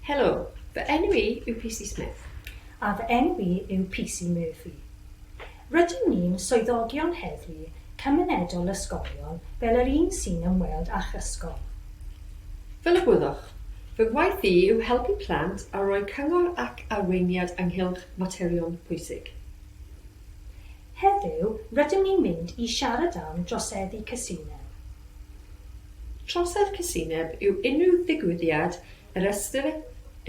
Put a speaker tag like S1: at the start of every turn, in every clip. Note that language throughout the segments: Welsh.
S1: Helo, fy enw i yw PC Smith. A fy enw
S2: i yw PC Murphy. Rydyn ni'n swyddogion heddlu cymunedol ysgolion fel yr un sy'n ymweld â'ch ysgol.
S1: Fel y gwyddoch, fy ngwaith i yw helpu plant a rhoi cyngor ac arweiniad ynghylch materion pwysig. Heddiw,
S2: rydym ni'n mynd i siarad am droseddu casineb. Trosedd
S1: casineb yw unrhyw ddigwyddiad yr ystyrir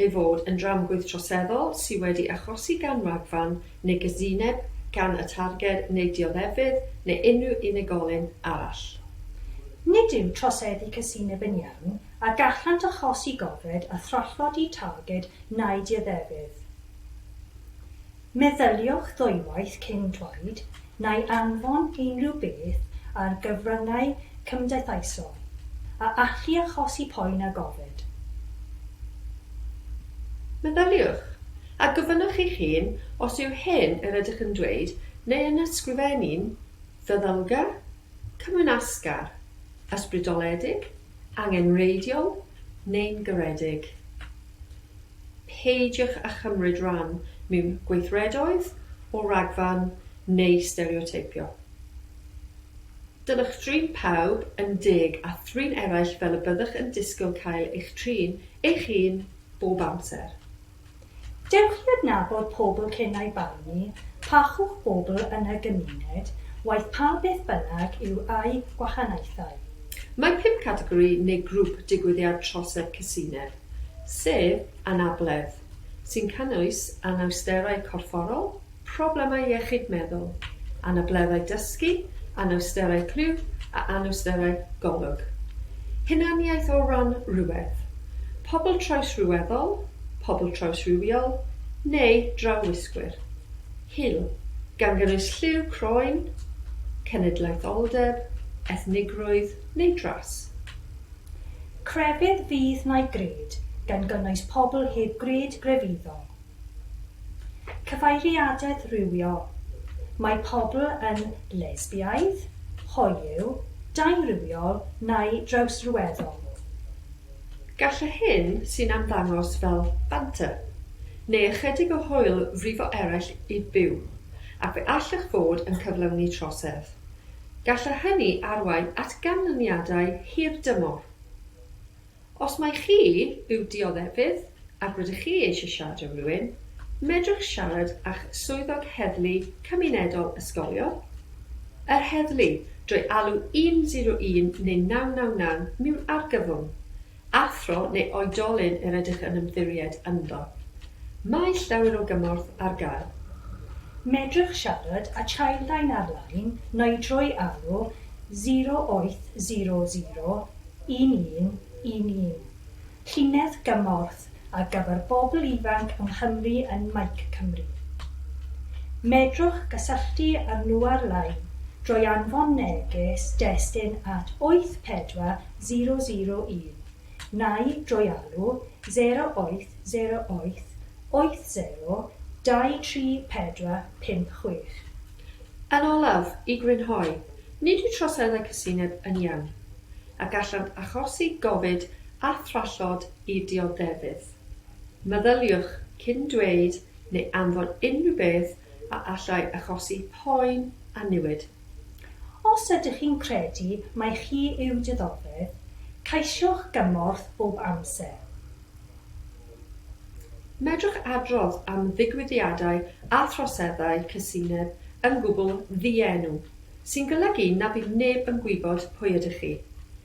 S1: ei fod yn dramgwydd troseddol sydd wedi achosi gan ragfarn neu gasineb gan y targed neu dioddefydd neu unrhyw unigolyn arall. Nid
S2: yw troseddu casineb yn iawn a gallant achosi gofred a thrallodi targed neu dioddefydd. Meddyliwch ddwywaith cyn dweud neu anfon unrhyw beth ar gyfryngau cymdeithaisol a allu achosi poen a gofid.
S1: Meddyliwch, a gofynnwch eich hun os yw hyn yr ydych yn dweud neu yn ysgrifennu'n feddylgar, cymwynasgar, ysbrydoledig, angenrheidiol neu'n garedig. peidiwch â chymryd rhan mewn gweithredoedd o ragfarn neu stereoteipio. Dylech drin pawb yn deg a thrin eraill fel y byddwch yn disgwyl cael eich trin eich hun bob amser.
S2: Dewch i adnabod pobl cyn eu barnu, parchwch pobl yn y gymuned, waeth pa beth bynnag yw eu gwahaniaethau. Mae pum
S1: categori neu grŵp digwyddiad trosedd casineb. sef anabledd, sy'n cynnwys anawsterau corfforol, problemau iechyd meddwl, anableddau dysgu, anawsterau clywf a anawsterau golwg. Hunaniaeth o ran rhywedd, pobl trawsryweddol, pobl trawsrywiol neu drawwisgwyr. Hil, gan gynnwys lliw croen, cenedlaetholdeb, ethnigrwydd neu dras. Crefydd
S2: fydd mai gred, gan gynnwys pobl heb gred grefyddol. Cyfeiriadaeth rhywiol, mae pobl yn lesbiaidd, hoyw, daearywiol neu drawsryweddol.
S1: Gall y hyn sy'n ymddangos fel banter, neu ychydig o hwyl frifo eraill i byw, ac fe allech fod yn cyflawni trosedd, Gall hynny arwain at ganlyniadau hirdymor. Os mai chi yw dioddefwydd ac rydych chi eisiau siarad â rhywun, medrwch siarad â'ch Swyddog Heddlu Cymunedol Ysgolion, yr heddlu, drwy alw 101 neu 999 mewn argyfwng, Athro neu oedolyn yr ydych yn ymddiried ynddo. Mae llawer o gymorth ar gael. Medrwch
S2: siarad â Childline ar-lein neu drwy alw 0800 1111, llinell gymorth ar gyfer bobl ifanc yng Nghymru yn Mike Cymru. Medrwch gysylltu â nhw ar-lein drwy anfon neges destun at 84 001, neu drwy alw 0808 80 2344 56. Yn
S1: olaf, i grynhoi, nid yw troseddau casineb yn iawn, a gallant achosi gofid a thrallod i dioddefydd. Meddyliwch cyn dweud neu anfon unrhyw beth a allai achosi poen a niwed. Os
S2: ydych chi'n credu mai chi yw dioddefwyr, ceisiwch gymorth bob amser.
S1: Medrwch adrodd am ddigwyddiadau a throseddau cysineb yn gwbl ddienw, sy'n golygu na bydd neb yn gwybod pwy ydych chi.